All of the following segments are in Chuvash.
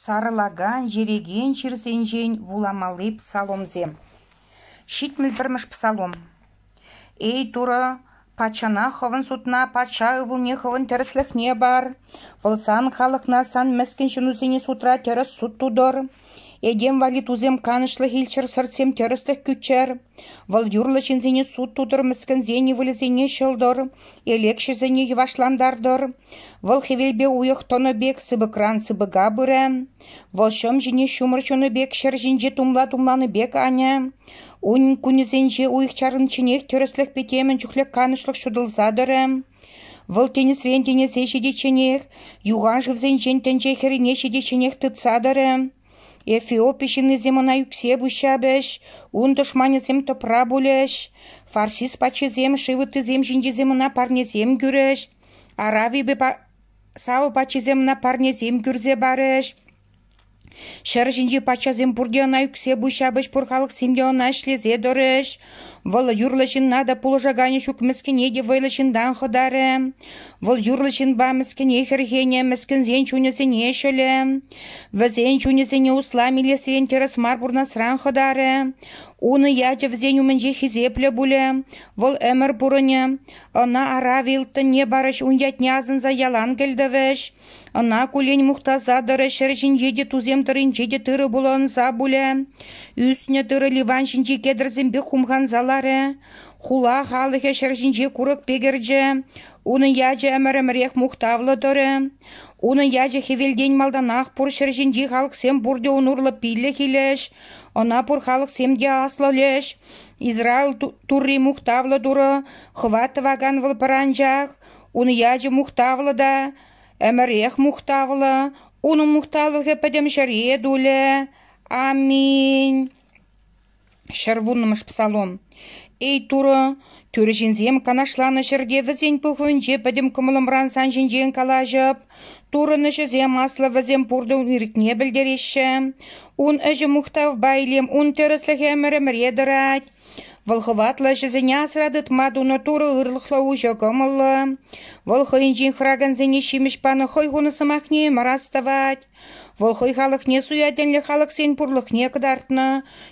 Сарӑлакан, ерекен чирсенчен вуламалли псаломсем. Ҫитмӗл пӗрмӗш псалом. «Эй, Турӑ, патшана хӑвӑн судна патша ывӑлне хӑвӑн тӗрӗслӗхне пар. Вӑл сан халӑхна сан мӗскӗн ҫынусене судра тӗрӗс суд тутӑр. Этем валли тусем канӑҫлӑх илччӗр, сӑртсем тӗрӗслӗх кӳччӗр, вӑл юрлӑ ҫынсене суд тутӑр, мӗскӗнсен ывӑлӗсене ҫӑлтӑр, элекҫӗсене йӑвашлантартӑр, вӑл хӗвелпе уйӑх тӑнӑ пек сыпӑкран сыпӑка пырӗ, вӑл ҫӑм ҫине ҫумӑр ҫунӑ пек ҫӗр ҫинче тумла-тумланӑ пек анӗ, унӗн кунӗсенче уйӑх чарӑнчченех тӗрӗслӗхпе темӗн чухлӗ канӑҫлӑх ҫутӑлса тӑрӗ. Вӑл тинӗсрен тинӗсе ҫитичченех юхан шывсенчен тӗнче хӗррине ҫитичченех тытса тӑрӗ. Эфиопи ҫыннисем ӑна ӳксе пуҫҫапӗҫ, ун тӑшманӗсем тӑпра пулӗҫ. Фарсис патшисем шыв ыттисем ҫинчисем ӑна парнесем кӳрӗҫ. Аравипе Сава патшисем ӑна парнесем кӳрсе парӗҫ. Ҫӗр ҫинчи патшасем пурте ӑна ӳксе пуҫ ҫапӗҫ, пур халӑхсем те ӑна ӗҫлесе тӑрӗҫ. Вӑл юрлӑ ҫынна та, пулӑшаканӗ ҫук мӗскӗне те вӑйлӑ ҫынтан хӑтарӗ. Вӑл юрлӑ ҫынпа мӗскӗне хӗрхенӗ, мӗскӗнсен чунӗсене ҫӑлӗ. Вӗсен чунӗсене услам илесрен тӗрӗс мар пурнасран хӑтарӗ. Унӑ ячӗ вӗсен умӗнче хисеплӗ пулӗ. Вӑл ӗмӗр пурӑнӗ. Ӑна арав ылтӑнне парӗҫ, ун ятне асӑнса ялан кӗлтӗвӗҫ. Ӑна куллен мухтаса тӑрӑ ҫӗр ҫинче те, тусем тӑрринче те тырӑ пулӑнса пулӗ. Ӳснӗ тырӑ ливан ҫинчи кедрсемпех хумханса ларӗ. Хула халӑхӗ ҫӗр ҫинче курӑк пекӗрчӗ. Унӑн ячӗ ӗмӗр-ӗмӗрех мухтавлӑ тӑрӗ. Унӑн ячӗ хӗвелтен малтанах пур ҫӗр ҫинчи халӑхсем пурте ун урлӑ пиллӗх илӗҫ, ӑна пур халӑхсем те аслӑлӗҫ. Израиль Турри мухтавлӑ Турӑ, хӑва тӑвакан вӑл пӑранчах. Ун ячӗ мухтавлӑ та ӗмӗрех мухтавлӑ, унӑн мухтавлӑхӗ пӗтӗм ҫӗре тулӗ. Аминь. Ҫӗр вуннӑмӗш псалом. Эй Турӑ, тӳрӗ ҫынсем канашланӑ ҫӗрте вӗсен пухӑвӗнче пӗтӗм кӑмӑлӑмран сан ҫинчен калаҫӑп. Туррӑн ӗҫӗсем аслӑ вӗсем пуртӑ ирӗкне пӗлтереҫҫӗ. Ун ӗҫӗ мухтавпа илем, ун тӗрӗслӗхӗ ӗмӗр-ӗмӗре тӑрать. Вӑл хӑватлӑ ӗҫӗсене асра тытма тунӑ турӑ ырлӑхлӑ уҫӑ кӑмӑллӑ. Вӑл хӑйӗнчен хӑракансене ҫимӗҫ панӑ хӑй хунӑ сӑмахне мар астӑвать. Вӑл хӑй халӑхне суя тӗнлӗ халӑхсен пурлӑхне кӑтартнӑ.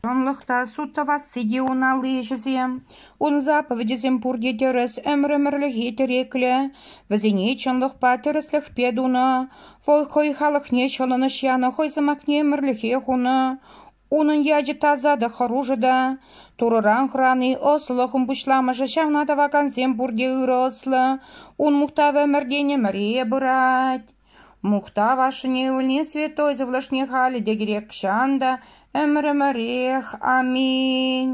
Чӑнлӑх та суд тӑвасси те ун алли ӗҫӗсем. Ун заповедӗсем пурте тӗрӗс, ӗмӗр-ӗмӗрлӗхе тӗреклӗ. Вӗсене чӑнлӑхпа тӗрӗслӗхпе тунӑ. Вӑл хӑй халӑхне ҫӑлӑнӑҫ янӑ хӑй сӑмахне ӗмӗрлӗхе хунӑ. Унӑн ячӗ таса та хӑрушӑ та, Турӑран хӑрани ӑслӑхӑн пуҫламӑшӗ. Ҫавна тӑвакансем пурте ырӑ ӑслӑ. Ун мухтав ӗмӗртен ӗмӗре пырать. Мухтав ашшӗне ывӑлне святой сывлӑшне халӗ те кирек чан та, ӗмӗр-ӗмӗрех. Аминь.